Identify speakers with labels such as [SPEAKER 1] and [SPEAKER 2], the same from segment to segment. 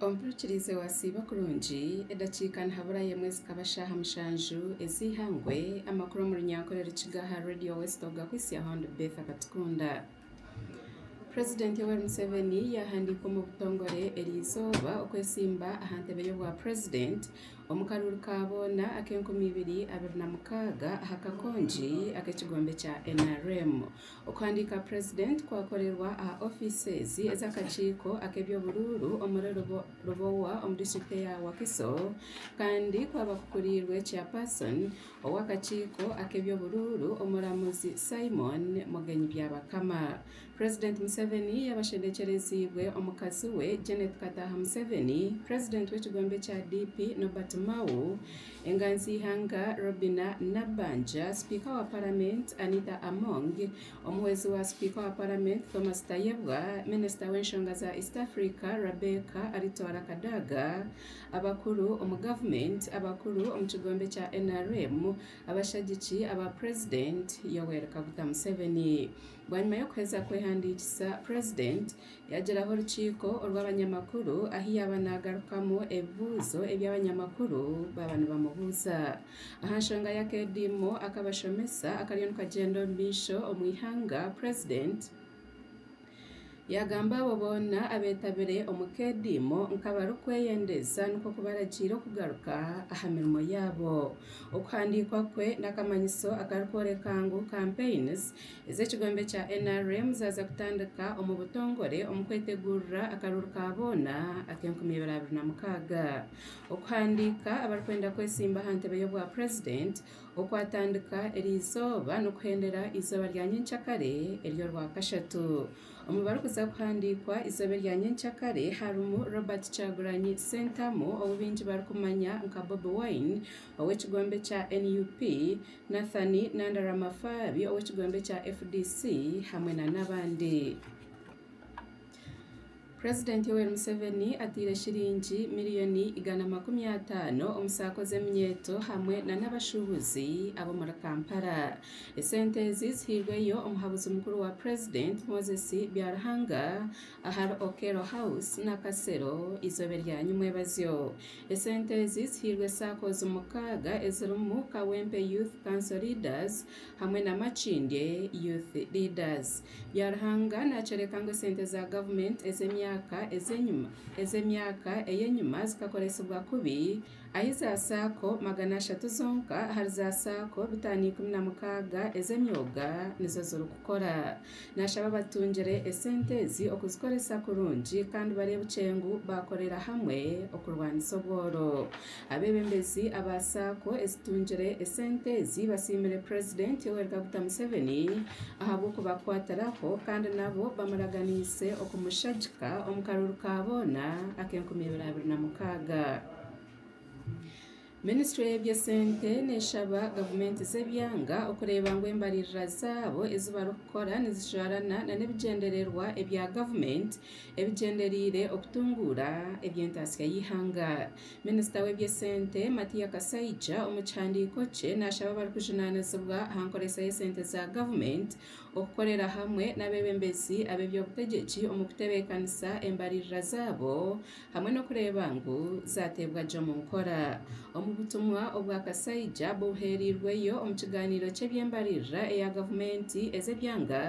[SPEAKER 1] Omuhurikirize waasiiba kurungi, edakiika nihaburayo emwe zikaba shaaha mushanju ez'eihangwe, amakuru omu runyankore Rukiga aha Radio West Ogakwitsya Hon Betha Katukunda. President Yoweri Museveni yaahandiika omu butongore eri izooba okwesimba aha ntebe y'obwa president omu karuuru ka boona ak'enkumi ibiri abiri na mukaaga aha kakongi ak'ekigombe kya nrm. Okuhandiika President kwakorerwa aha ofiisi z'akakiiko ak'eby'oburuuru omuri Lubowa omu district eya Wakiso kandi kwaba kukuriirwe Chairperson ow'akakiiko ak'eby'oburuuru omuramuzi Simon Mugenyi Byabakama. President Museveni yabashendekyereziibwe omukazi we Janet Kataaha Museveni, President w'ekigombe kya DP Nobert Mao, Enganzi y'eihanga Robinah Nabbanja, sipiika wa paramenti Anita Among, omuhwezi wa sipiika wa paramenti Thomas Tayebwa, minisita w'enshonga za East Africa Rebecca Alitwala Kadaga, abakuru omu gavumenti, abakuru omu kigombe kya nrm, abashagiki aba purezidenti Yoweri Kaguta Museveni. Bwanyima y'okuheza kwehandiikisa, purezidenti Yagiraho orukiiko orw'abanyamakuru ahu yaaba naagarukamu ebibuuzo ebi abanyamakuru baaba nibamubuuza aha nshonga y'akaediimo ak'abashomesa akariyo nikagyenda omu maisho omu ihanga, Purezidenti yaagamba abo boona abeetabire omu kaediimo nk'abarikweyendeeza nikwo kubaragiira okugaruka aha mirimo yaabo. Okuhandiikwa kwe n'akamanyiso akarikworeka ngu Campaigns ez'ekigombe kya nrm zaaza kutandika omu butongore omu kwetegurira akaruru ka boona ak'enkumi ibiri abiri na mukaaga okuhandiika abarikwenda kwetsimba aha ntebe y'obwa purezidenti okwatandika eri izooba n'okuhendera izooba rya nyenkyakare ery'orwakashatu omu barikuza kuhandiikwa izooba erya nyenkyakare harimu Robert Kyagulanyi Sentamu ou baingi barikumanya nka Bobi Wine ow'ekigombe kya nup, Nathan Nanda Ramafabi ow'ekigombe kya fdc hamwe na n'abandi. President Yoweri Museveni ataire shiringi miriyoni igana makumi ataano omu saako z'eminyeeto hamwe na n'abashuubuzi ab'omuri Kampala. Esente ezi zihairweyo omuhabuzi mukuru wa president Moses Byaruhanga ahari Okello House Nakasero eizooba erya nyimwebazyo. Esente ezi zihairwe saakoozi mukaaga ezirimu Kawempe Youth Council Leaders hamwe na Makindye Youth Leaders. Byaruhanga naakyoreka ngu esente za gavumenti ez'emyaka ez'enyima ez'emyaka ey'enyima zikakoresibwa kubi ahi za saako magana ashatu zonka ahari za saako bitaano ikumi na mukaaga ez'emyoga nizo zirikukora. Naashaba batungire esente ezi okuzikoresa kurungi kandi bareebukye ngu baakorera hamwe okurwanisa obworo. Abeebembezi aba saako ezitungire esente ezi basiimire Purezidenti Yoweri Kaguta Museveni ahabw'okubakwatiraho kandi nabo bamuraganiise okumushagika omu karuru ka boona ak'enkumi ibiri abiri na mukaaga. Minisitule y'ebyesente neeshaba gavumenti z'ebyanga okureeba ngu embaririra zaabo ezi barikukora nizijwarana nana ebigyendererwa ebya gavumenti ebigyendereire okutunguura eby'entaatsya y'eihanga. Minisita w'ebyesente Matia Kasaija omu kihandiiko kye naashaba abarikujunaanizibwa aha nkoresa y'esente za gavumenti okukorera hamwe n'abeebembezi ab'eby'obutegyeki omu kutebeekanisa embaririra zaabo hamwe n'okureeba ngu zaateebwa gye omu nkora. Omu butumwa obwa kashaija buheereirweyo omu kigaaniiro ky'eby'embaririra eya gavumenti ez'ebyanga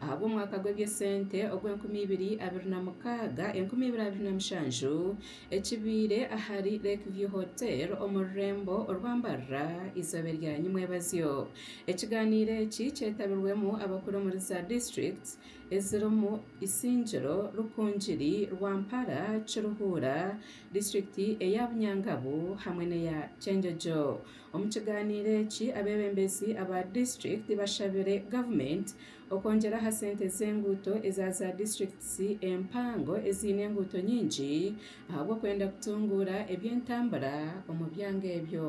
[SPEAKER 1] ahabw'omwaka gw'ebyesente ogw'enkumi ibiri abiri na mukaaga, enkumi ibiri abiri na mushanju ekibaire ahari Lake View Hotel omu rurembo orwa Mbarara eizooba erya nyimwebazyo. Ekigaaniiro eki kyetabirwemu abakuru omuri za district, ezirimu Isingiro, Rukungiri, Rwampara, Kiruhura, disiturikiti eya Bunyangabu hamwe n'eya Kyengegyo. Omu kigaaniiro eki abeebembezi aba disiturikiti bashabire gavumenti okwongyera aha sente z'enguuto eza za disiturikiti empango eziine enguuto nyingi ahabw'okwenda kutunguura eby'entambura omu byanga ebyo.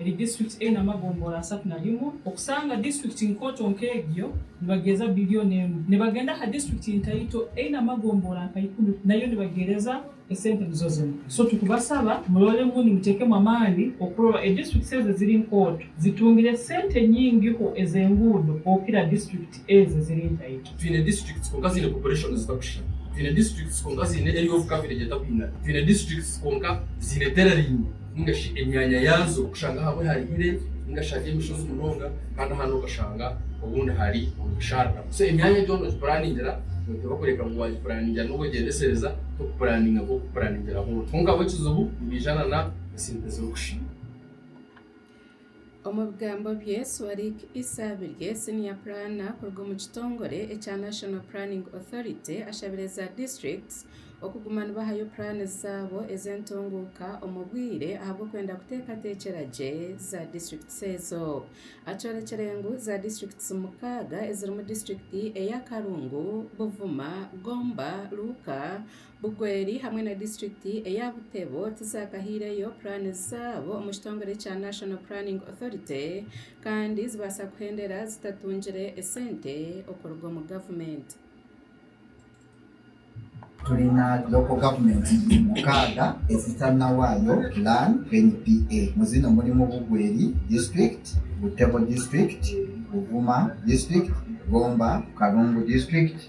[SPEAKER 2] eri disiturikiti eine amagomboora asatu na rimwe, okusanga disiturikiti nkooto nk'egyo nibageeza bilioni emwe. Nibagenda aha disiturikiti ntaito eine amagomboora nka ikumi nayo nibageereza esente nizo zimwe. So tukubasaba muroremu nimuteekemu amaani okurora edisiturikiti ezi eziri nkooto zitungire sente nyingiho ez'enguudo okukira disiturikiti. Twine districts kwonka
[SPEAKER 3] ziine population zitakushushana. Twine districts kwonka ziine area of coverage etakwingana. Twine districts kwonka ziine terrain ninga shi emyanya yaazo okushanga ahamwe hari hire ninga shi hari emishozi munonga kandi ahandi okashanga obundi hari omu bisharara. So emyanya egyo nogipuraningira noteeba kureka ngu waagipuraningira n'obwegyendesereza tokupuraninga nk'orikupuraningira hoona. Kwonka bo ekizibu nibaija na esente zirikusha.
[SPEAKER 1] Omu bigambo bye, Swarik Issa Birye, Senior Planner kuruga omu kitongore ekya National Planning Authority ashabire za districts okuguma nibahayo puraani zaabo ez'entunguuka omu bwire ahabw'okwenda kuteekateekyera gye za districts ezo. Akyorekire ngu za districts mukaaga ezirimu district eya Karungu, Buvuma, Gomba, Luuka, Bugweri hamwe na disiturikiti eya Butebo tizaakahaireyo puraani zaabo omu kitongore kya National Planning Authority kandi zibaasa kuhendera zitatungire esente okuruga omu gavumenti.
[SPEAKER 4] Turi na Local Government mukaaga ezitari na waayo Plan, NPA, mu zino murimu Bugweri District, Butebo District, Buvuma District, Gomba, Kalungu District,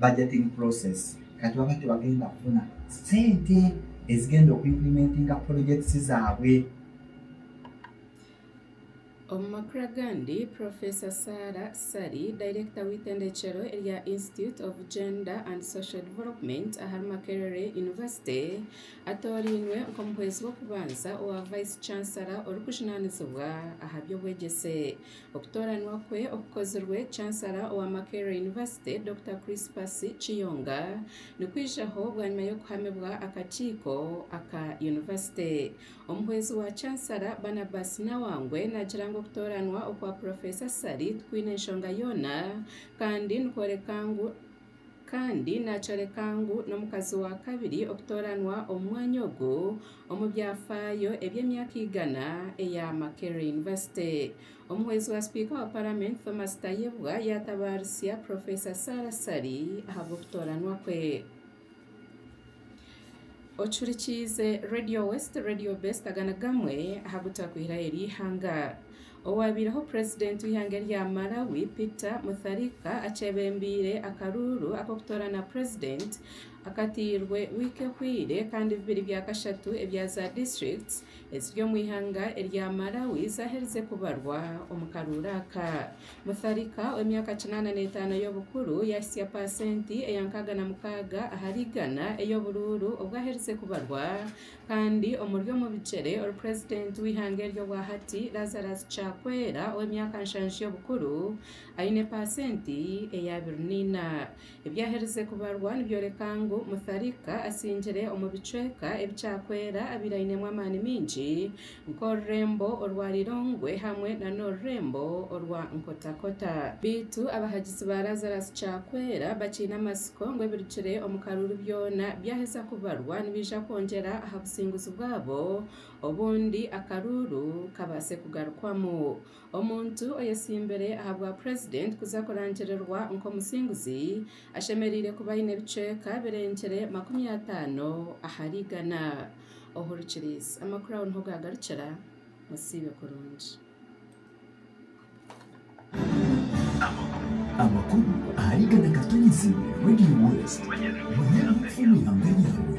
[SPEAKER 4] budgeting process kati baba tibagenda kufuna sente ezigenda oku implimentinga projects zabwe.
[SPEAKER 1] Omu makuru agandi, Professor Sarah Ssali, Dayirekita w'eitendekyero erya Institute of Gender and Social Development ahari Makerere University, atoorainwe nk'omuhwezi w'okubanza owa Vice Chancellor orikujunanizibwa aha by'obwegyese. Okutooranwa kwe okukozirwe Chancellor owa Makerere University, Dokita Crispus Kiyonga, nikwijaho bwanyima y'okuhamibwa akakiiko aka yunivasite. Omuhwezi wa Chancellor, Barnabas Nawangwe naagira ngu okutooranwa okwa Purofeesa Ssali tikwine nshonga yoona kandi nikworeka ngu, Kandi naakyoreka ngu n'omukazi wa kabiri okutooranwa omu mwanya ogu omu byafaayo eby'emyaka igana eya Makerere University. Omuhwezi wa sipiika wa paramenti Thomas Tayebwa yaatabaarisia Professor Sarah Ssali ahabw'okutooranwa kwe. Ocurikiize Radio West, Radio Best aga ni gamwe aha gu twakuhiraho eri ihanga. Owaabaireho Purezidenti w'eihanga erya Malawi Peter Mutharika akyebembeire akaruuru ak'okutoorana Purezidenti akateirwe wiiki ehweire kandi bibiri bya kashatu ebya za district eziri omu ihanga erya Malawi zaaherize kubarwa omu karuuru aka. Mutharika ow'emyaka kinaana n'etaano y'obukuru yaahitsya paasenti eya nkaaga na mukaaga ahari igana ey'oburuuru obwo aherize kubarwa, kandi omuri omu bigyere orupurezidenti w'eihanga eryo obwa hati Lazarus Chakwera ow'emyaka nshanju y'obukuru aine paasenti eya abiri na ina. Ebyaherize kubarwa nibyoreka ngu Mutharika asingire omu bicweka ebikyakwera abaire ainemu amaani maingi nk'orurembo orwa Lilongwe hamwe na n'orurembo orwa Nkotakota. Beitu abahagizi ba Lazarus Kyakwera bakiine amatsiko ngu ebirugire omu karuuru byoona byaheza kubarwa nibeija kwongyera aha businguzi bwabo obundi akaruuru kabaase kugarukwamu. Omuntu oyetsimbire aha bwa Purezidenti kuza kurangirirwa nk'omusinguzi ashemereire kuba aine ebicweka birengyire makumi ataano ahari igana. Ohurikiriize. Amakuru aho niho gaagarukira. Musiibe kurungi.
[SPEAKER 5] Amakuru ahari igana Katonyezi Radio West. Manya omu ihanga ryawe.